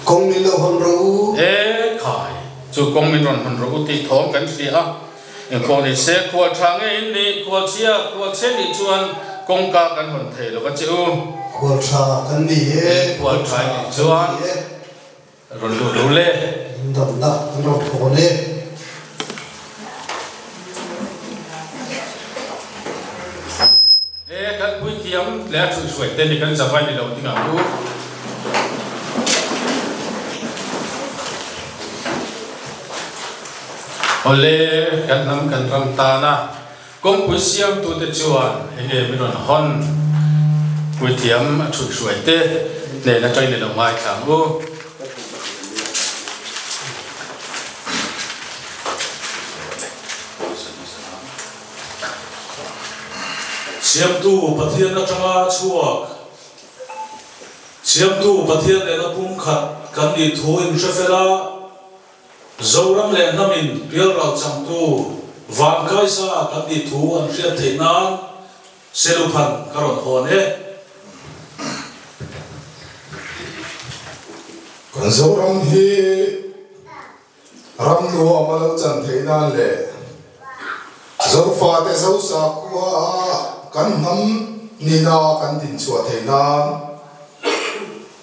Kawng min lo hawn rawh u. He khai chu kawng min rawn hawn rawh u tih thawm kan hria a, engpawh ni se khual tha ngeiin ni, khual chhia khual chhe nih chuan kawngka kan hawn thei lova che u. Khual tha kan ni e. He khual tha nih chuan rawn lut lo le. Min damna kan rawn thawn e. He kan puithiam leh a chhunhruai te ni kan zavai ni lo dingah chu awle kan hnam kan ram tan a. Kawngpui siamtute chuan he nge min rawn hawn? Puithiam a chhut hruai te nen atang in i lo ngaithlang u. Siamtu Pathian atanga chhuak. Siamtu Pathian nena pumkhat kan nih thu in hre fel a. Zoram leh hnamin bialral changtu van kaisa kan nih thu an hriat theih nan seluphan ka rawn hawn e. Kan Zoram hi ram nuam a lo chan theih nan leh Zofate Zosa khua a kan hnam nihna kan dinchhuah theih nan,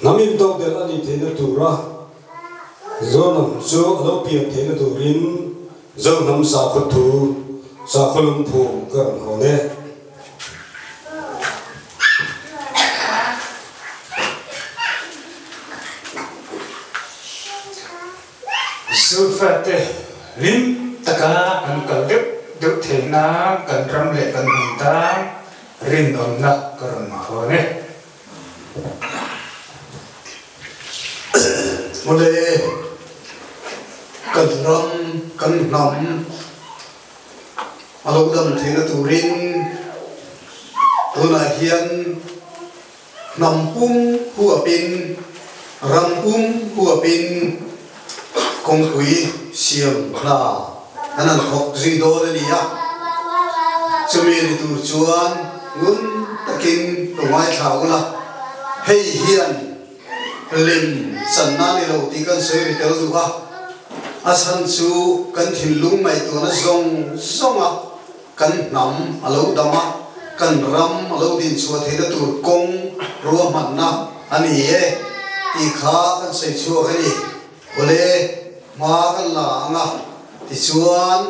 Hnam intok ber a nih theihna tura Zohnam chu a lo pian theihna turin Zohnam sakhaw thu, sakhaw lungphum ka rawn haw e. Zulfate hlim taka an kal deuh deuh theihna kan ram leh kan hmun tan rinawmna ka rawn hawn e. Mawle, kan ram, kan hnam a lo dam theihna turin tunah hian hnam pum huapin, ram pum huapin, kawngpui siam hna a nan thawk zui dawn a ni a, chumi a ni tur chuan ngun takin ka ngaithla ula, hei hian lem channa a ni lo tih kan sawi ri tel duh a, a chhan chu kan thinlung ngaihtuahna zawng zawng a. Kan hnam a lo dam a, kan ram a lo din chhuah theihna tur kawng ruahmanna a ni e tih kha kan sawi chhuak e ni. Awle, hma kan la ang a, tichuan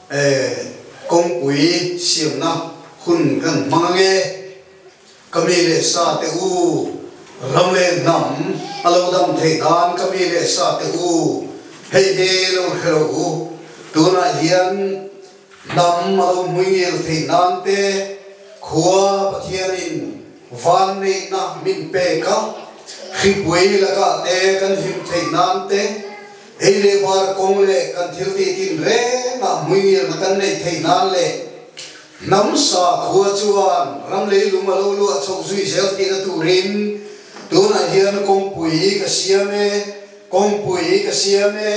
eh kawngpui siamna hun kan hmang ang e. Ka mi leh sa teh u, ram leh hnam a lo dam theih nan ka mi leh sa teh u, hei hi lo hre lo u, tunah hian. Hnam a lo hmui ngel theih nan te, khua Pathianin van neihna min pek a, hripuai lakah te kan hlim theih nan te, ei leh var kawng leh kan thil titin rengah hmui ngelna kan neih theih nan leh hnam sa khua chuan ram lei lung a lo luah chhoh zui zel theihna turin tunah hian kawngpui ka siam e, kawngpui ka siam e.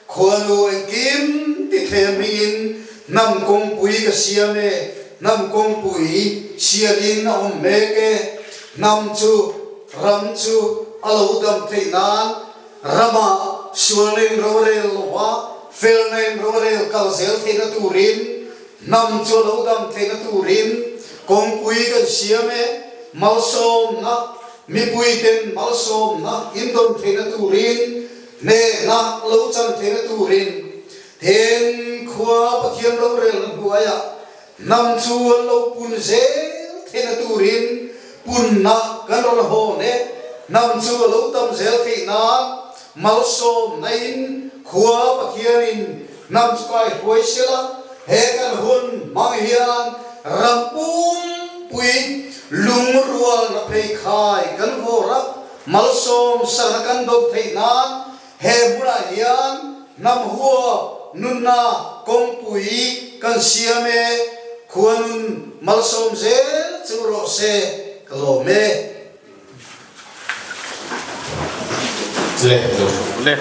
Khualnuai kim ti thlem niin hnam kawngpui ka siam e, hnam kawngpui sialin a awm mek e. Hnam chu ram chu a lo dam theih nan rama sualna in rorel lohma felna in rorel kal zel theihna turin hnam chu a lo dam theihna turin kawngpui kan siam e. Malsawmna, mipuiten malsawmna indawn theihna turin Hme hlak lo chan thlenna turin heng khua Pathian rorel hnuaiah hnam chu an lo pun zel thlenna turin punna kan rawn haw leh hnam chu a lo tam zel theih nan malsawmnain khua Pathianin hnam chu kai hruai sela he kan hun hmang hian ram pumpuii lungrualna pheikhai kan vawrh a. Malsawm sangha kan dawt theih nan he hmunah hian hnam huap nunna kawngpui kan siam e, khua nun malsawm zel chu rawh se ka lawm e. Leh leh.